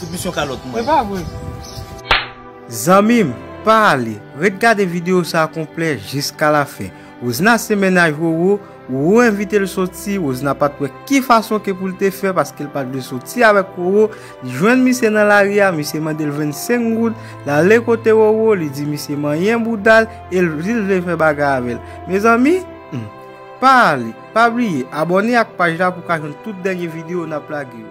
Tout misyon kalòt mwen. Epa vre. Zanmim pa ale ret gade video sa konplè jiska la fen Rosna se mennaj Roro Roro envitel soti Rosna pat wè ki fason ke poul te fè paskel pat vle soti avèk Roro li jwenn misye nan lari a misye mandel 25 goud lale kote Roro li di misye manyen boudal el dil vle fè bagay avèl mezanmi humm pa ale pa bliye abòne ak paj la pou ka jwenn tout dènye video nap lage yo.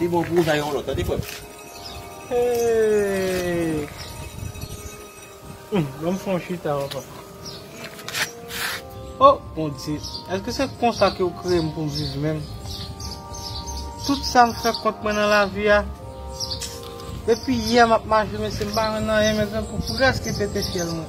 Li bon pou ou jay yon lot tande frem. Hum banm fè yon chita papa. Oh bondye eske se konsa ke ou kreye m pou m viv menm tout sa m fè kont mwen nan lavi a depi yè m ap mache mesye m pa jwenn anyen men gen pou preske pete fyèl mwen.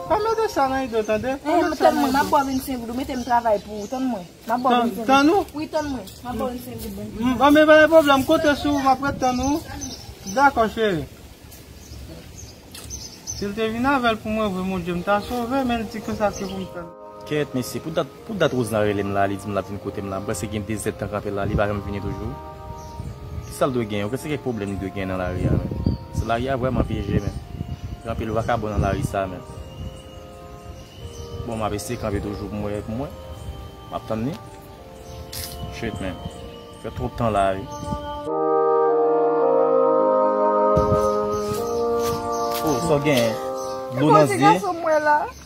Pa mete sa nan ido tande. Ehe m tann mwen map ba w 25 goud ou mete m travay pou ou tann mwen map ba w 25 goud. Tann ou? Wi tann mwen map ba w 25 goud banm ti Anben pa gen pwoblèm konte sou ou map ret tann ou Dakò cheri Si l te vin avè l pou mwen vre mon Dye m ta sove men l di konsa se pou m fè l. Kèèt mesye pou dat Pou dat Rosna rele m la li di m l ap vin kote m la m panse gen 2 zèd tan kanpe la li pa janm vini toujou kisa l dwe gen yo se kèk pwoblèm li dwe gen nan lari a menm se lari a vrèman pyeje menm gen anpil vakabon nan lari sa menm bon m ap eseye kanpe toujou pou m wè pou m wè m ap tann li shitt menn m fè twòp tan la wi oh sa w genyen dlo nan zye.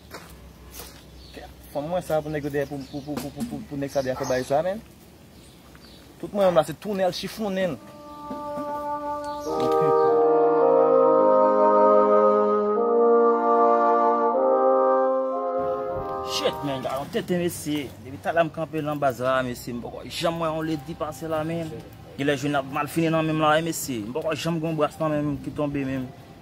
Fanm mwen sa pou nèg yo dèyè pou nèg sa dèyè fè bagay sa menn. Tout mwen menm la se tounen al chifonnen l. Shit menn gade yon tenten mesye. Depi talè m kanpe lan baz la mesye m poko janm wè yon lady pase la menn. Genlè jounen ap mal fini nan menm la wi mesye. M poko janm gen yon bras nan menm ki tonbe menm.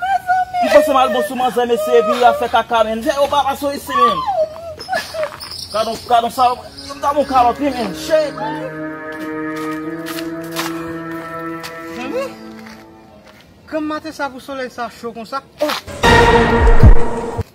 Mezanmi. Mpanse mal bon sou manzè mesye epi yap fè kaka menm jan yo papa sou isi menm. Gadon gadon salopri yo ta bon kalòt wi menm shit. Mezanmi. Granm maten sa pou solèy sa cho konsa oh.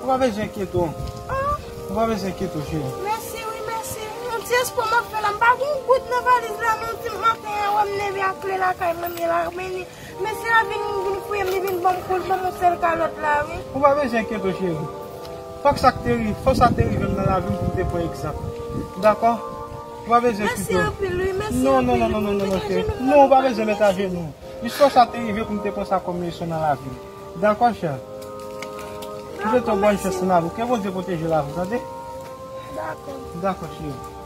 Ou pa bezwen enkyete w. Ou pa bezwen enkyete w cheri. Mèsi wi mèsi. Yon ti espwa m ap fè la. M pa gen goud nan valiz la men w di m maten an wè m leve ak kle lakay mwen m ye la men li mesye la vin fouye m li vin ban m kou l ban m yon sèl kalòt la wi. Ou pa bezwen enkyete w cheri. Fòk sa te rive fòk sa te rive m nan lavi m pou m te pran egzanp. Dakò? Ou pa bezwen enkyete w. Mèsi anpil wi mèsi anpil. Non non non non cheri. Non ou pa bezwen mèt ajenou. Jis fòk sa te rive pou m te pran sa kòm leson nan lavi m. Dan kòch an. Li swete w bòn chans nan lavi. Ke Bondye pwoteje lavi w tande. Dakò. Dakò cheri.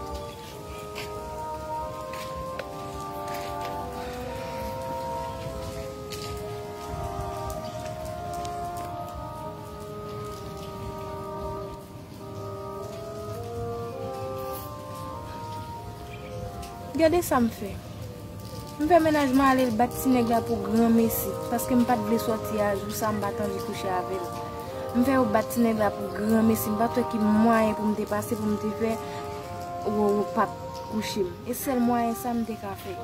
Gade sa m fè. M fè menaj mwen ale l bat ti nèg la pou granmesi, paske m pa t vle sòti a jou sa m pa t anvi kouche avè l. M fè yo bat ti nèg la pou granmesi, m pa t wè ki mwayen pou m te pase pou m te fè Roro pa t kouche m. E sèl mwayen sa m te ka fè.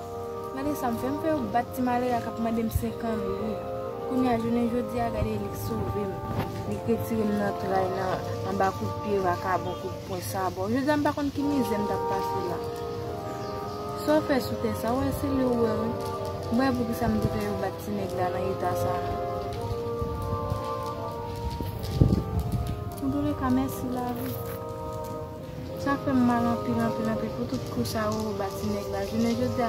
Gade sam fè m fè yo bat ti malere a kap mandem 5 an wi kounya jounen jodi a gade li k sovem li k retirem nan tray nan anba kout pye vakabon kout pwen sabò jodi a m pa konn ki mizè m tap pase la sa w fè sou tè sa w wè se li w wè wi m pa wè poukisa m te fè yo bat ti nèg la nan eta sa non antoulèka mèsi lavi. Sa fèm mal anpil anpil anpil pou tout kou sa Roro ba ti nèg la jounen jodia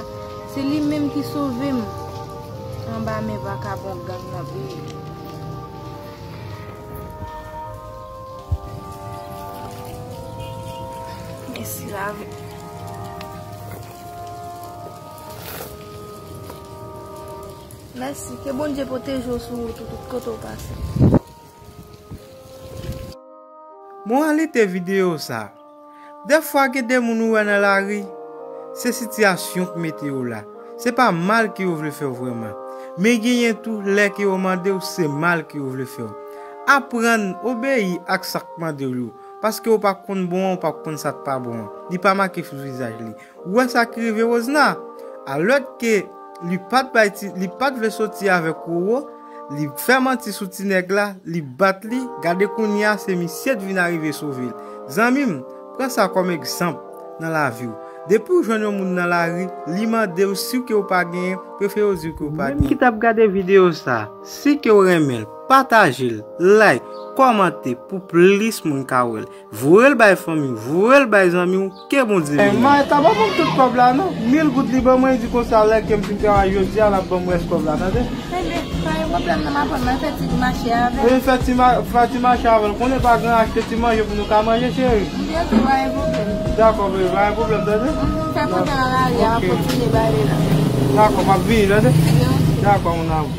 se li menm ki sovem anba men vakabon gang nan peyi. Mèsi lavi. Mèsi ke Bondye pwoteje w sou wout ou tout kote w pase. Moralite videyo sa, Dèfwa gen de moun ou wè nan lari, se sitiyasyon k mete yo la, se pa mal ke yo vle fè w vrèman. Men genyen tou lè ke yo mande w se mal ke yo vle fè w. Aprann obeyi ak sa k mande w yo, paske ou pa konn bon an ou pa konn sa k pa bon an, li pa make sou vizaj li. Ou wè sa ki rive Rosna? Alòdke li pat bay ti, li pat vle soti avèk Roro, li fè manti sou ti nèg la, li bat li, gade kounyea se misye t vin arive sove l. Zanmim, pran sa kòm egzanp nan laviw. Depiw jwenn yon moun nan lari, li mandew siw ke ou pa genyen, prefere w diw ke ou pa genyen. Ou menm ki tap gade video sa, si ke ou renmenl, patajel, like, kòmante pou plis moun ka wèl. Voyel bay fanmi w, voyel bay zanmi w, ke Bondye beni w. Mayetta pa banm tout kob la non, mil goud li ban mwen li di konsa lè kem fin travay jodia lap banm rès kob la tande. Enben, pa gen pwoblèm nan m aprann mwen fè ti mache avè l. Vin fè ti fè ti mache avè l konnen pa gran achte ti manje pou nou ka manje cheri. Byen si pa gen pwoblèm. Dakò baby pa gen pwoblèm tande. Mph fè kontè nan lari a map kontinye bay li la. Dakò map vini tande. Byen ok. Dakò mon amour.